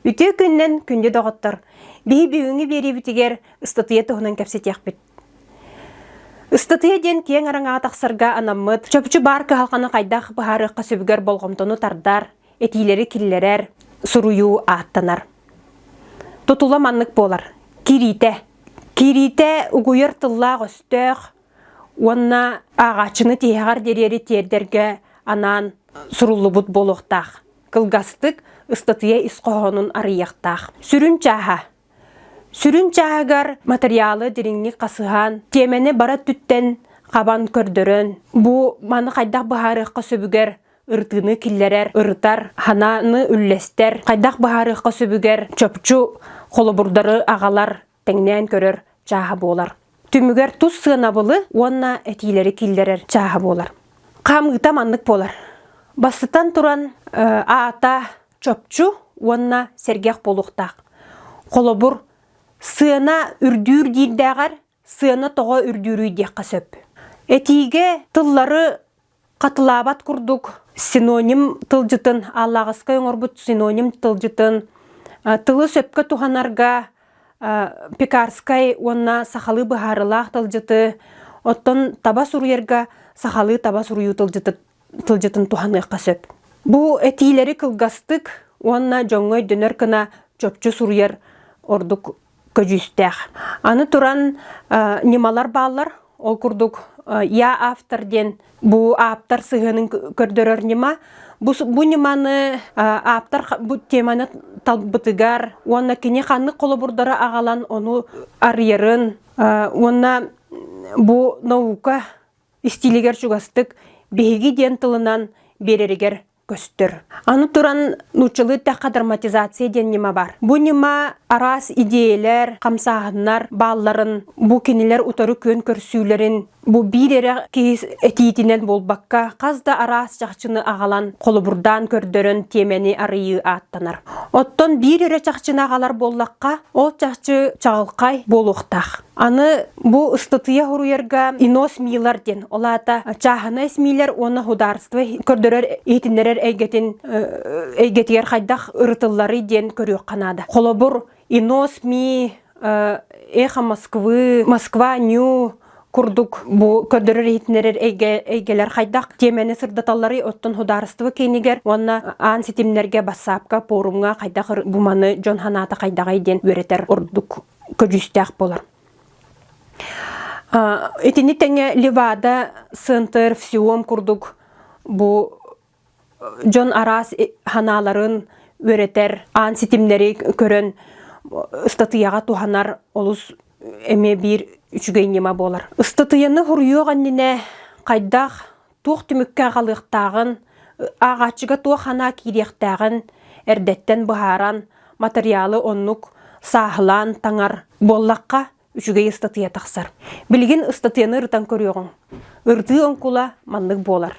Үтүө күннэн күндү доҕоттор! Биһи бүгүҥҥү биэриибитигэр ыстатыйа туһунан кэпсэтиэхпит. Ыстатыйа диэн киэҥ араҥаҕа тахсарга анаммыт, чопчу баар кыһалҕаны хайдах быһаарыахха сөбүгэр болҕомтону тардар, этиилэри киллэрэр, суруйуу ааттанар. Тутула маннык буолар. Кириитэ. Кириитэ угуйар тыллаах-өстөөх уонна ааҕааччыны тиһэҕэр диэри тиэрдэргэ анаан суруллубут буолуохтаах. Кылгастык ыстатыйа ис хоһоонун арыйыахтаах. Сүрүн чааһа. Сүрүн чааһыгар материалы дириҥник хасыһан, тиэмэни бара өттүттэн хабан көрдөрөн, бу маны хайдах быһаарыахха сөбүгэр ырытыыны киллэрэр, ырытар, санааны үллэстэр, хайдах быһаарыахха сөбүгэр чопчу холобурдары аҕалар, тэҥнээн көрөр чааһа буолар. Түмүгэр тус сыанабылы уонна этиилэри киллэрэр чааһа буолар. Хаамыыта маннык буолар. Бастатан туран аата чопчу уонна сэргэх буолуохтаах. Холобур, сыана үрдүүр диирдээҕэр сыана тоҕо үрдүүрүй диэххэ сөп. Этиигэ тыллары хатылаабат курдук синоним тылдьытын, аллаҕыскай оҥорбут синоним тылдьытын тылы сөпкө туһанарга пекарскай уонна сахалыы быһаарылаах тылдьыты, оттон таба суруйарга сахалыы таба суруйуу тылдьытын туһаныахха сөп. Бу этиилэри кылгастык уонна дьоҥҥо өйдөнөр гына чопчу суруйар ордук көдьүүстээх. Аны туран, ньымалар бааллар. Ол курдук, «Я автор» диэн бу ааптар сыһыанын көрдөрөр ньыма. Бу, бу ньыманы ааптар бу теманы талбытыгар уонна кини ханнык холобурдары аҕалан ону арыйарын уонна бу наука истиилигэр чугастык биһиги диэн тылынан биэрэригэр көстөр. Аны туран нууччалыы тахха драматизация диэн ньыма бар. Бу ньыма араас идеялар, хамсааһыннар баалларын, бу кинилэр утары күөн көрсүүлэрин, бу биир эрэ киис этиитинэн буолбакка, хас да араас чахчыны аҕалан, холобурдаан көрдөрөн тиэмэни арыйыы ааттанар. Оттон биир эрэ чахчыны аҕалар буоллахха, ол чахчы чаҕылхай буолуохтаах. Аны бу ыстатыйа хоруйарга Инос Милар диэн, ол аата чааһынай СМИлэр уонна судаарство көрдөрөр, иһитиннэрэр эйгэтин эйгэтигэр хайдах ырытылларый диэн көрүөххэ наада. Холобур, Инос Ми, Эхо Москвы, Москва Нью курдук бу көрдөрөр иһитиннэрэр эйгэлэр хайдах тиэмэни сырдаталларый оттон судаарыстыба киинигэр уонна аан ситимнэргэ бассаапка пуорумҥа хайдах буманы дьон ханаата хайдаҕай диэн үөрэтэр ордук көдьүүстээх буолар. Итини тэҥэ Левада Сент-Эрфсиом курдук бу дьон араас ханааларын үөрэтэр, аан ситимнэри көрөн ыстатыйаҕа туһанар олус эмиэ биир үчүгэй ньыма буолар. Ыстатыйаны суруйуох аннинэ хайдах туох түмүккэ аҕалыахтааҕын, ааҕааччыга туох санаа киириэхтээҕин эрдэттэн быһааран, матырыйаалы оннук сааһылаан таҥар буоллахха, үчүгэй ыстатыйа тахсар. Билигин ыстатыйаны ырытан көрүөҕүҥ. Ырытыы оҥкула маннык буолар.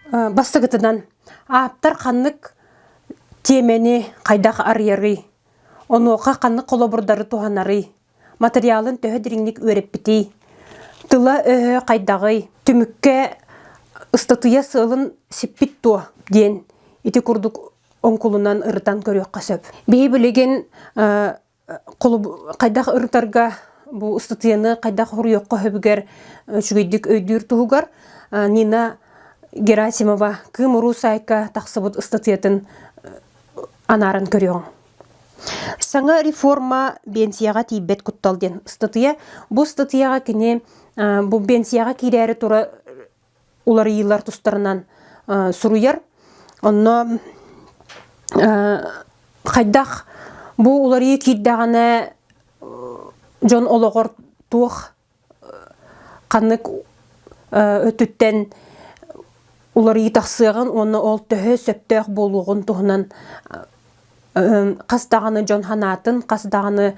Бастыгытынан Ааптар ханнык тиэмэни хайдах арыйарый? Онуоха ханнык холобурдары туһанарый? Матырыйаалын төһө дириҥник үөрэппитий? Тыла-өһө хайдаҕый? Түмүккэ ыстатыйа сыалын сиппит дуо? диэн ити курдук оҥкулунан ырытан көрүөххэ сөп. Биһи билигин хайдах ырытарга бу ыстатыйаны хайдах хоруйуохха хөбүгэр үчүгэйдик өйдүүр туһугар Нина Герасимова Кыымуруу саайка тахсыбыт ыстатыйатын анааран көрүөҥ. Саҥа реформа биэнсийэҕэ тиийбэт куттал диэн ыстатыйа. Бу ыстатыйаҕа кини бу биэнсийэҕэ киирээри тура уларыйыылар тустарынан суруйар. Онно хайдах бу уларыйыы киирдэҕинэ дьон олоҕор туох ханнык өтүттэн уларыйыы тахсыаҕын уонна ол төһө сөптөөх буолуоҕун туһунан хас даҕаны дьон санаатын, хас даҕаны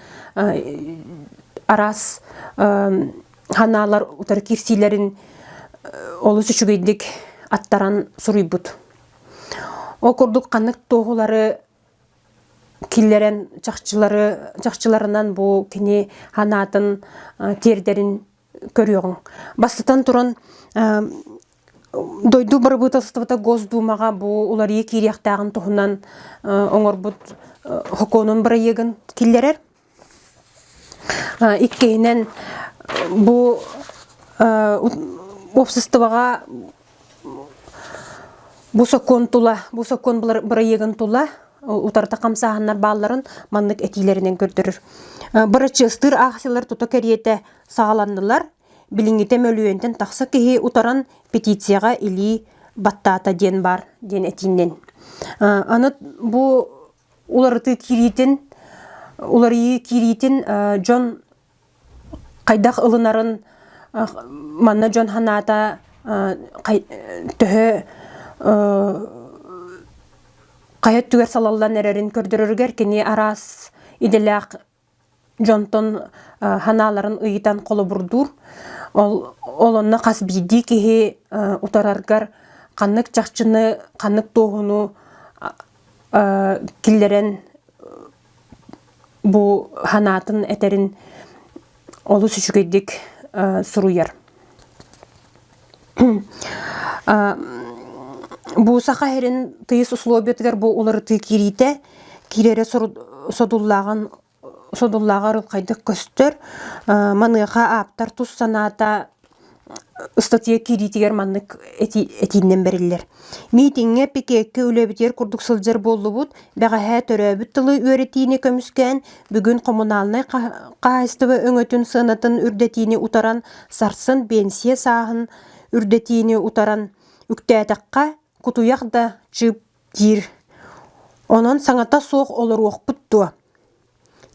араас санаалар утары киирсиилэрин олус үчүгэйдик аттаран суруйбут. Ол курдук ханнык туоһулары киллэрэн чахчылары чахчыларынан бу кини санаатын тиэрдэрин көрүөҕүҥ. Бастатан туран, дойду бырабыыталыстыбата Госдуумаҕа бу уларыйа киириэхтээҕин туһунан оҥорбут хокуонун бырайыагын киллэрэр. Иккиһинэн, бу уопсастыбаҕа Бу сокуон тула, бу сокуон бырайыагын тула утарыта хамсааһыннар баалларын маннык этиилэринэн көрдөрөр. Бырачыастыыр аахсыйалар тута кэриэтэ саҕаланнылар. Билиҥҥитэ мөлүйүөнтэн тахса киһи утаран петицияҕа илии баттаата диэн баар диэн этиинэн. Аны бу уларытыы киириитин уларыйыы киириитин дьон хайдах ылынарын манна дьон санаата төһө хайа өттүгэр салаллан эрэрин көрдөрөрүгэр кини араас идэлээх дьонтон санааларын ыйытан холобурдуур. Ол ол онно хас биирдии киһи утараргар ханнык чахчыны, ханнык туоһуну киллэрэн бу санаатын этэрин олус үчүгэйдик суруйар. Бу саха иһирин тыйыс условиятыгар бу уларытыы киириитэ киирэрэ содуллааҕын содуллааҕар хайдах көстөр. Маныаха ааптар тус санаата ыстатыйа киириитигэр маннык этииннэн бэриллэр. Миитиҥҥэ пикеккэ үлэбитигэр курдук сылдьар буоллубут, бэҕэһээ төрөөбүт тылы үөрэтиини көмүскээн, Бүгүн хомунаалынай хаһаайыстыба өҥөтүн сыанатын үрдэтиини утаран, сарсын биэнсийэ сааһын үрдэтиини утаран, үктээтэххэ, кутуйах да чыып диир. Онон саҥата суох олоруохпут дуо?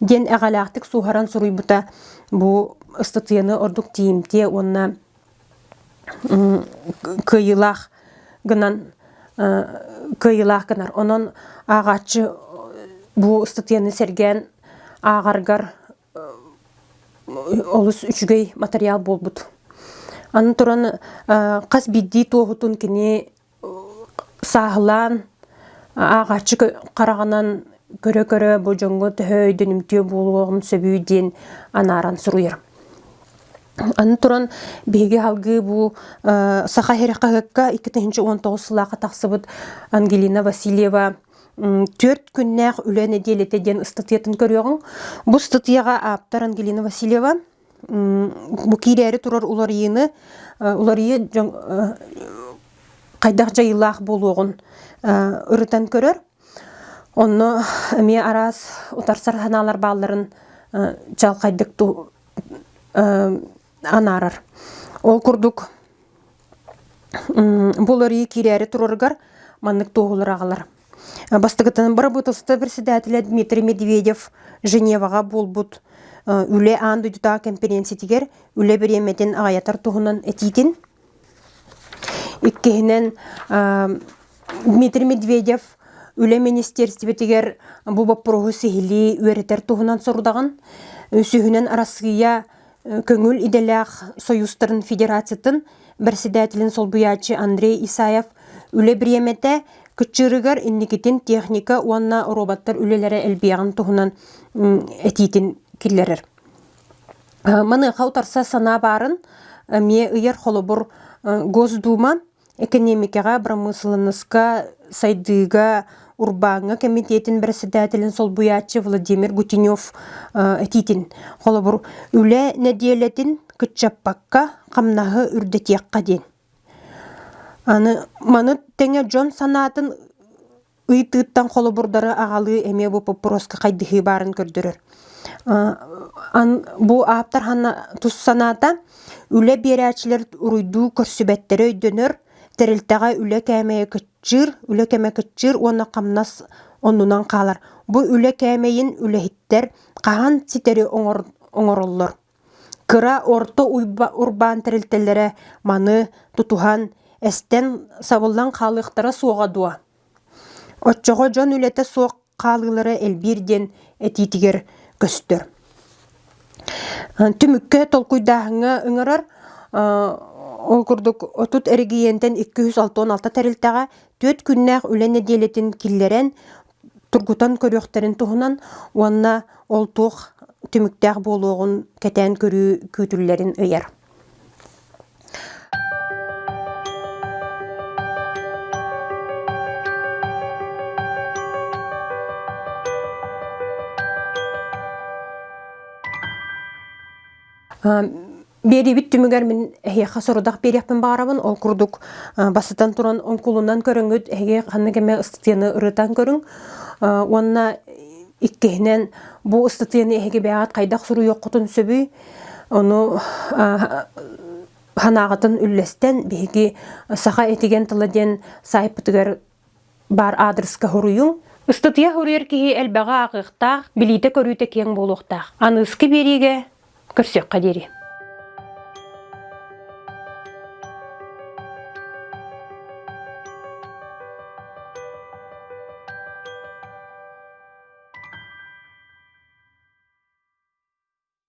диэн эҕэлээхтик суһаран суруйбута бу ыстатыйаны ордук тиийимтиэ уонна кыайыылаах гынан кыайыылаах гынар онон ааҕааччы бу ыстатыйаны сэргээн ааҕаргар олус үчүгэй матырыйаал буолбут аны туран хас биирдии туоһутун кини Сааһылаан ааҕааччы хараҕынан көрө-көрө бу дьоҥҥо төһө өйдөнүмтүө буолуоҕун сөбүй диэн анааран суруйарым. Аны туран биһиги аһылгы бу Саха иһирэх хаһыакка икки тыһыынча уон тоҕус сыллаахха тахсыбыт Ангелина Васильева «Түөрт күннээх үлэ нэдиэлэтэ» диэн ыстатыйатын көрүөҕүҥ. Бу ыстатыйаҕа ааптар Ангелина Васильева бу киирээри турар уларыйыыны уларыйыы дьон хайдах дьайыылаах буолуоҕун ырытан көрөр. Онно эмиэ араас утарсар санаалар баалларын чаҕылхайдык анаарар. Ол курдук бу уларыйыы киирээри турарыгар маннык туоһулар аҕалар. Бастакытынан бырабыыталыстыба председателэ Дмитрий Медведев Женеваҕа буолбут Үлэ аан дойдутааҕы кэмпириэнситигэр үлэ бириэмэтин аҕайатар туһунан этиитин. Иккиһинэн Дмитрий Медведев Үлэ министиэрстибэтигэр бу боппуруоһу сиһилии үөрэтэр туһунан сорудаҕын. Үсүһүнэн Арассыыйа көҥүл идэлээх Союзтарын Федерациятын бэрэссэдээтэлин солбуйааччы Андрей Исаев үлэ бириэмэтэ кыччыырыгар инникитин техника уонна роботтар үлэлэрэ элбиэҕин туһунан этиитин киллэрэр. Маныаха утарса санаа баарын эмиэ ыйар холобур Госдума Экэниэмикэҕэ, бырамыысыланнаска, сайдыыга урбааҥҥа кэмитиэтин бэрэссэдээтэлин солбуйааччы Владимир Гутенев этиитин, холобур, үлэ нэдиэлэтин кыччаппакка, хамнаһы үрдэтиэххэ диэн. Аны маны тэҥэ дьон санаатын ыйытыыттан холобурдары аҕалыы эмиэ бу боппуруоска хайдыһыы баарын көрдөрөр. Бу ааптар ханна тус санаата үлэ биэрээччилэр уруйдуу көрсүбэттэрэ өйдөнөр, тэрилтэҕэ үлэ кээмэйэ кыччыыр, үлэ кэмэ кыччыыр уонна хамнас оннунан хаалар. Бу үлэ кээмэйин үлэһиттэр хаһан ситэри оҥороллор? Кыра орто урбаан тэрилтэлэрэ маны тутуһан, эстэн сабыллан хаалыахтара суоҕа дуо? Оччоҕо дьон үлэтэ суох хаалыылара элбиир диэн этиитигэр көстөр. Түмүккэ толкуйдааһыҥҥа ыҥырар, ол курдук отут эрэгийиэнтэн икки жүз алта уон алта тэрилтэҕэ түөрт күннээх үлэ нэдиэлэтин киллэрэн, тургутан көрүөхтэрин туһунан уонна ол туох түмүктээх буолуоҕун кэтээн көрүү күүтүллэрин ыйар. Биэриибит түмүгэр мин эһиэхэ сорудах биэриэхпин баҕарабын. Ол курдук бастатан туран оҥкулунан көрөҥҥүт эһиги ханнык эмэ ыстатыйаны ырытан көрүҥ уонна иккиһинэн бу ыстатыйаны эһиги бэйэҕит хайдах суруйуоххутун сөбүй ону санааҕытын үллэстэн биһиги саха этигэн тыла диэн саайпытыгар Баар аадырыска хоруйуҥ, ыстатыйа хоруйар киһи элбэҕи ааҕыахтаах, билиитэ-көрүүтэ киэҥ буолуохтаах. Аныыски биэриигэ көрсүөххэ диэри.